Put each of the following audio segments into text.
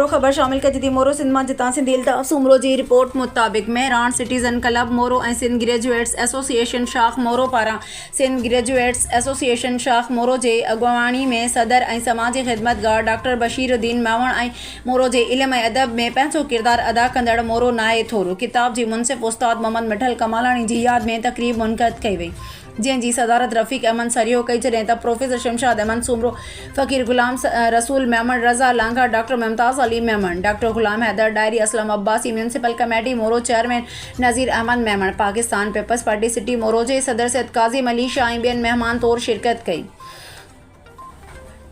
مورو، خبر شامل ڪجدي مورو سنڌ مان جتان سنڌي الطاف سومرو جي رپورٽ مطابق Mehran citizen club Moro ۽ Sindh graduates association شاخ مورو پاران سنڌ گريجوئيٽس ايسوسيئيشن شاخ مورو جي اڳواڻي ۾ صدر ۽ سماجي خدمتگار ڊاڪٽر بشير الدين ميوڻ ۽ مورو جي علم ۽ ادب ۾ پنهنجو ڪردار ادا ڪندڙ مورو ناهي ٿورو ڪتاب جي منصف استاد محمد مٺل ڪمالاڻي جي ياد ۾ تقريب منعقد ڪئي وئي جنهن جي صدارت رفيق احمد سرهيو ڪئي جڏهن ته professor Shamshad Ahmed Soomro, Faqir Ghulam Rasool Memon, Raza Langah, doctor Mumtaz Ali Memon, doctor Ghulam Haider Dahri, Aslam Abbasi, municipal committee Moro chairman Nazir Ahmed Memon, Pakistan peoples party city Moro جي صدر سيد ڪاظم علي شاهه ۽ ٻين مهمان طور شرڪت ڪئي.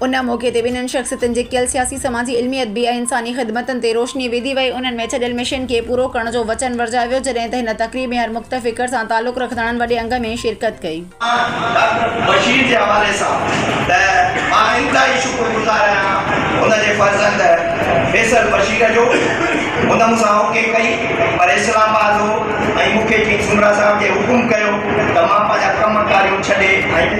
ان موقعي تي ٻنهن شخصيتن جي ڪيل سياسي، سماجي، علمي، ادبي ۽ انساني خدمتن تي روشني وڌي وئي، انهن ۾ ڇڏيل مشن کي پورو ڪرڻ جو وچن ورجايو ويو، جڏهن ته هن تقريب ۾ هر مخته فڪر سان تعلق رکندڙن وڏي انگ ۾ شرڪت ڪئي. ڊاڪٽر بشير جي حوالي سان ته مان انتهائي شڪر گذار آهيان هن جي فرزند فيصل بشير جو، هن مون سان اوڪي ڪئي پر اسلام آباد هو ۽ مون کي پير سومرا صاحب جي حڪم ڪيو ته مان پنهنجا ڪم ڪاريون ڇڏي ۽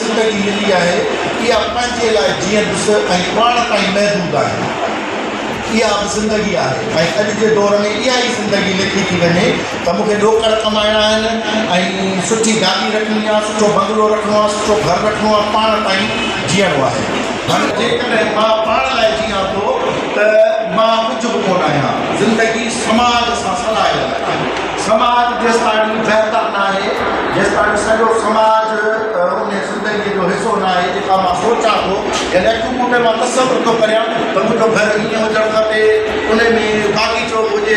زندگي ملي آهي، اها پنهنجي لاء جيئن ڏس ۽ پاڻ تائين محدود آهي. اها به زندگي آهي ۽ اڄ جي دور ۾ اها ئي زندگي لکي ٿي وڃي ته مون کي ڏوڪڙ ڪمائڻا آهن ۽ سٺي گاڏي رکڻي آهي، سٺو بنگلو رکڻو آهي، سٺو گهر رکڻو آهي، پاڻ تائين جيئڻو آهي. پر جيڪڏهن مان پاڻ لاء جيئان ٿو ته مان ڪجهه به ڪونه آهيان. زندگي سماج سان سلهايل آهي. سماج جيستاڻي بهتر ناهي، جيستاڻي سڄو سماج ان زندگيء جو حصو ناهي، جيڪا مان سوچان ٿو، يعني اکيون پوٽي مان تصور ٿو ڪريان ته منهنجو گهر هيئن هجڻ کپي، ان ۾ باغيچو به هجي،